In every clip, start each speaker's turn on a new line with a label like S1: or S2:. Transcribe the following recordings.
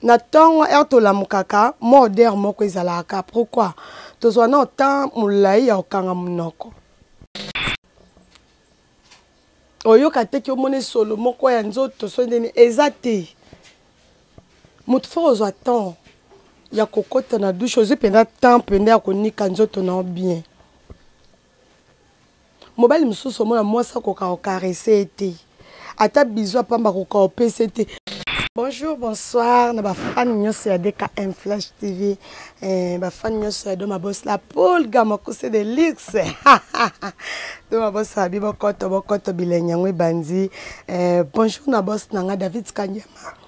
S1: na ntongo ere tolamukaka mwa odere moko ezalaka pourkui tozwa na otemp molai ya kokanga monoko oyoka te ki omona esolo moko ya nzoto so ndeni eza te moto fo kozwa temps ya kokota na dushe ozwi mpenza temps mpenza ya konika nzoto na yo bien mobali mosusu omona mwasi akoka kokarese ye te ata bizu ya pamba akoka kopesa te bonjour bonsoir na bafani nyonso ya dkm flash tv eh, bafani nyonso ya doma bos la polga mokuse de luxe doma bos abi bokoto bokoto bilenge yango ebandi eh, bonjour na bos na nga david kanyama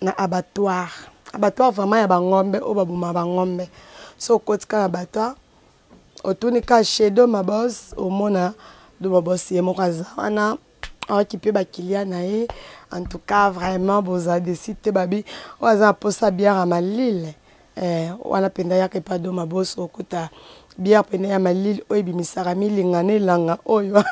S1: na abattoir abattoir vraiment ya bangombe oyo baboma bangombe so okoti ka na abattoir otuni ka chez do mabos omona do mabos ye moko aza wana aokipe bakilia na ye en tout cas vraiment boza desi te babi oyo aza na mposa biara malile Eh, wana mpenza yaka epa do maboso okuta bière mpenza ya malili oyo ebimisaka milinga na elanga oyo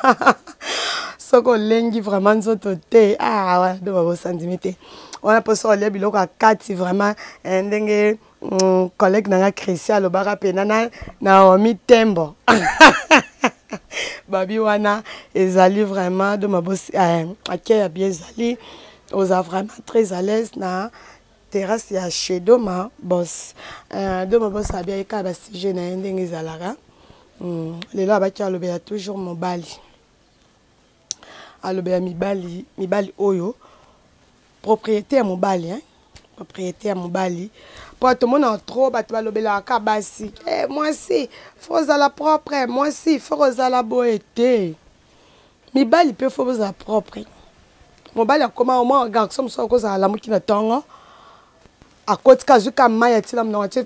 S1: soki olengi vraiment nzoto te ah, wana do maboso andimi te wana mpo soki olia biloko ya kati vraiment eh, ndenge mm, collègue na nga christian alobaka mpenza na naomi tembo babi wana ezali vraiment do mabosi eh, ake ya bien ezali oza vraiment très à l'aise na terrasse ya chez doma bos uh, doma bos abiaki kaka basujet na ye ndenge ezalaka mm, lelo abaki alobela toujours mobali alobela mibali mibali oyo propriété ya mobali hein? propriété ya mobali mpo tomonaka trop bato balobelaka ka basi eh, mwasi fo ozala propre mwasi fo kozala boye te mibali mpe fo bozala propre mobali akoma omwa garçon mosusu akozala alamuki na ntongo akotika azwi ka mai atila monoko atie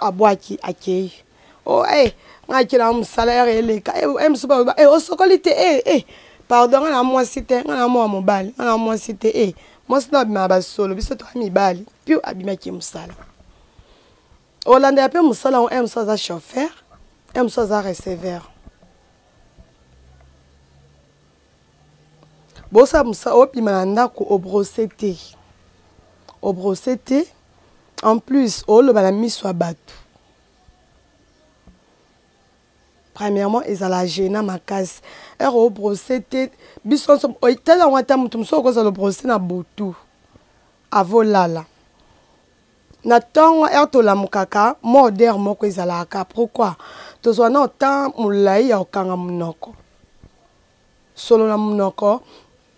S1: abwaki akei o oh, e eh, ngai akela yango mosala ere eleka e eh, mosusu baloba e osokoli te e e pardon ngai na mwasi te ngai na mwa mobali ngai na mwasi te e mwasi na abimaka basolo biso toya mibali mpio abimaki mosala olandela mpe mosala yango e mosusu aza chauffeur e mosusu aza receveur bosa musa obima na ndako obrose te obrose te en plus oloba na miso ya bato premièrement ezala gena makasi ere obrose te biso nyonso tala yango ata moto mosusu okozala obrose na butu avolala na ntongo ere tolamukaka mwa odere moko ezalaka ka pourkui tozwa na otemp molai ya kokanga monoko solo na monoko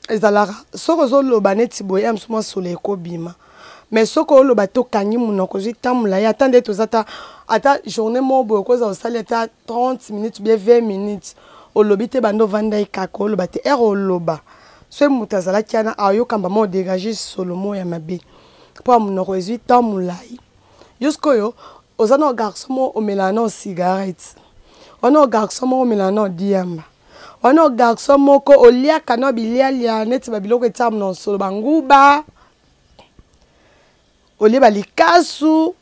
S1: ezalaka soki ozoloba neti boye ya mosu mwa solo ekobima mais soki oloba te okangi monoko ozwi ntan molai ata nde toza ta ata journée moko boye okozala osali ata 30 minutes bie 20 minutes olobi te banda ovandaki kaka oloba te ere oloba soki moto azalaki yana aoyokamba mwa odegage solo moko ya mabe mpo ya monoko ezwi temps molai jusqu'oyo oza na garçon moko omelana na cigarette wana garçon moko omelana na diamba wana garçon moko oliaka na bilialia neti babiloko etiaka na nsolo banguba olie balikasu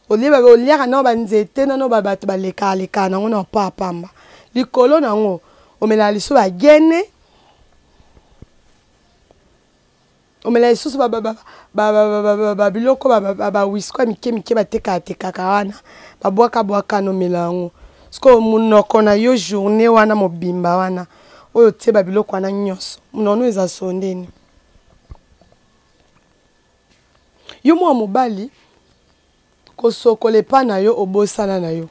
S1: olie oliaka na banzete nano babato balekalekala nango na mpo ya pamba likolo na yango omelaka liso bagene omela lisusu babiloko bawisko ya mike mike batekaatekaka wana babwaka bwaka nomela yango sikoyo monoko na yo journée wana mobimba wana oyo otie babiloko wana nyonso monono eza sondeni yo mwa mobali kosokola epa na yo obosana na yo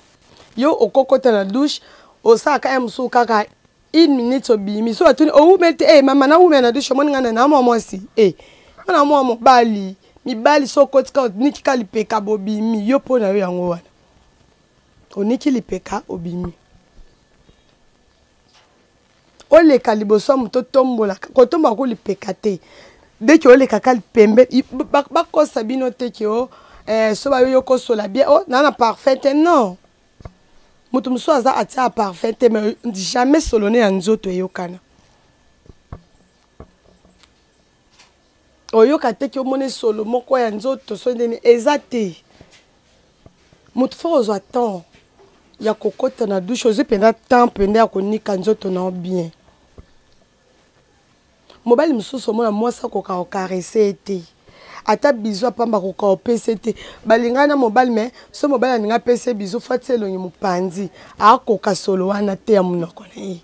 S1: yo okokota na douche osalaka ya mosusu kaka une minute obimi so batuni owumeli te e mama nawumela na douche omoni ngai na namwa mwasi e nga na mwa mobali mibali so okotika oniki ka lipeka bobimi yo mpo na yo yango wana oniki lipeka obimi oleka liboso ya moto otombolaka kotombola ko lipeka te deke olekaka lipembe bakosa bino te ke o eh, so bayoyi okosola bien o naa na parfum te non moto mosusu aza atia parfum te mais jamais solone ya nzoto eyokana oyoka te ki omona esolo moko ya nzoto so ndeni eza te moto fo ozwa temps ya kokota na dushe ozwi mpenza temps mpenza ya konika nzoto na yo bien mobali mosusu omona mwasi akoka kokarese ye te ata bizu apamba akoka opesa ye te balingani na mobali me so mobali alingi apesa ye bizu fatisi elongi mopanzi akoka solo wana te ya monoko na ye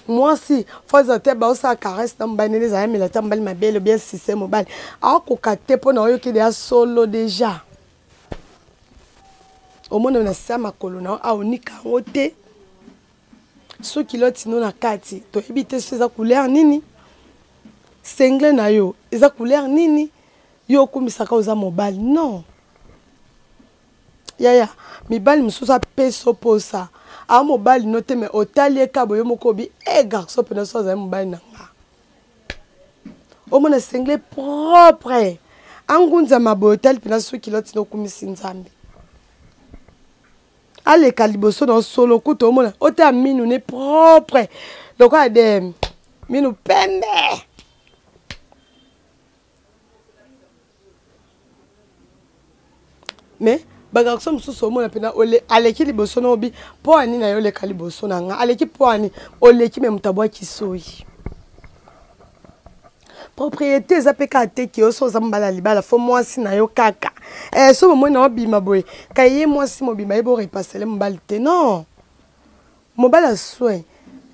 S1: mwasi fo azala te baosala caresse na mobali nene ezala yamela ata mobali mabele obia sise mobali akoka te mpo na oyoki deya solo deja omona na se ya makolo na yo aonika yango te soki lotino na kati toyebi te so eza couleur nini sengle na yo eza couleur nini yo okumisaka oza mobali non yaya mibali mosusu apeso posa a mobali no te me otali ye kabo yo moko obi e eh, garçon mpena so azali mobali na nga omona sengle propre angunzama boye otali mpena soki kiloti nokumisi nzambe aleka liboso na osolo kutu omona otala minu ne propre lokola de minu pembe mais bagarso mosusu omona mpena aleki liboso na obi mpo ani na yo oleka liboso na nga aleki mpo ani oleki me moto abwaki soyi propriété eza mpe kaka te ke oso oza mobala libala fo mwasi na yo kaka eh, so bomoi na obima boye kaye mwasi mobima ye borepasele mobali te non mobali ya soin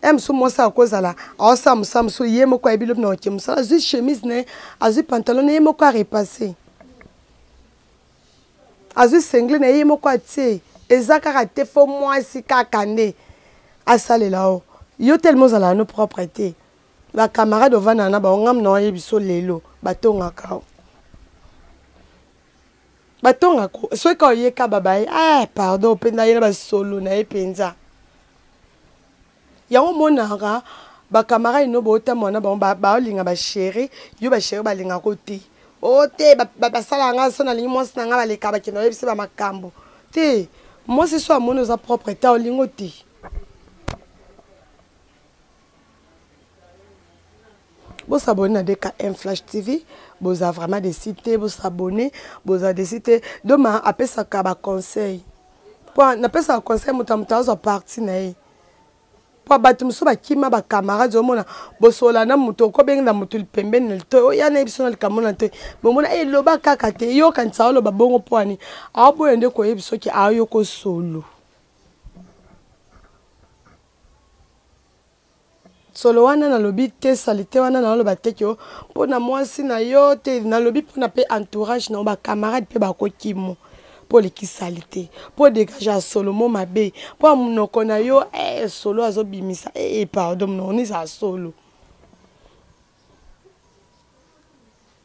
S1: ye eh, mosusu mwasi akozala aosala mosala mosusu ye moko ayebi lobi na oke mosala azwi chemise na ye azwi pantalon na ye moko arepasse azwi sengle na ye moko atie eza kaka te fo mwasi kaka nde asalela o yo telema ozalaka no propre te bacamarade ovandaka na bango ngamu na oyebi so lelo batongaka o batonga ko soki kaka oye kaba baye ah pardon mpe naye na basolo na ye mpenza yango omonaka bakamarade no bootambola na bango baolinga bashere yo bashere balingako te o oh, te basalaka ngai so nalingi mwasi na ngai baleka bakenda oyebisi bamakambo te mwasi so amoni oza propre ta olingo te bosabone na dkm flash tv boza vraiment desi te bosabone boza desi te doma apesaka baconseil mpo napesaka conseil moto ya moto azwa parti na ye mpo bato mosusu bakima bacamarade omona bosola na moto okobenge na moto pembeni na litoi oya na ye biso na likambo na litoi bomona eloba eh, kaka te eyokanisa oloba bongo mpo ani aoboya nde koyebi soki ayoka osolo solo wana nalobi te salite wana naloba te kio mpo na mwasi na yo te nalobi mpo na mpe entourage na yo bacamarade mpe bakokimo mpo oleki salite mpo degage ya solo mo mabe mpo ya monoko na yo eh, solo azobimisa ee eh, pardon monoko nizala solo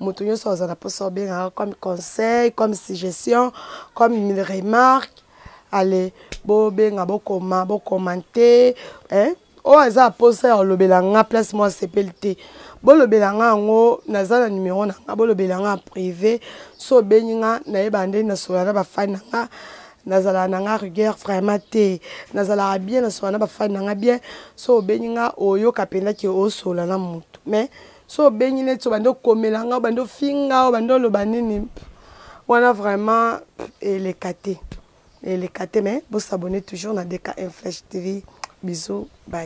S1: moto nyonso aza na mposa obengaka comme conseil comme suggestion comme une remarque ale bobenga bokoma bokomante eh? oyo aza mposa ya kolobela nga place mwa asepeli te bolobela nga yango naza na numero na nga bolobela nga privé so obengi nga nayeba nde nasola na bafani na nga nazalaka na nga rigueur vraiment te nazalaka bien nasola na bafani na nga bien so obengi nga oyoka mpenza ke osola na motu mais so obengi neti obandi okomela nga obandi ofinga obandi oloba nini wana vraiment eleka te eleka te mais bosabone toujours na dkm flash tv bisous bye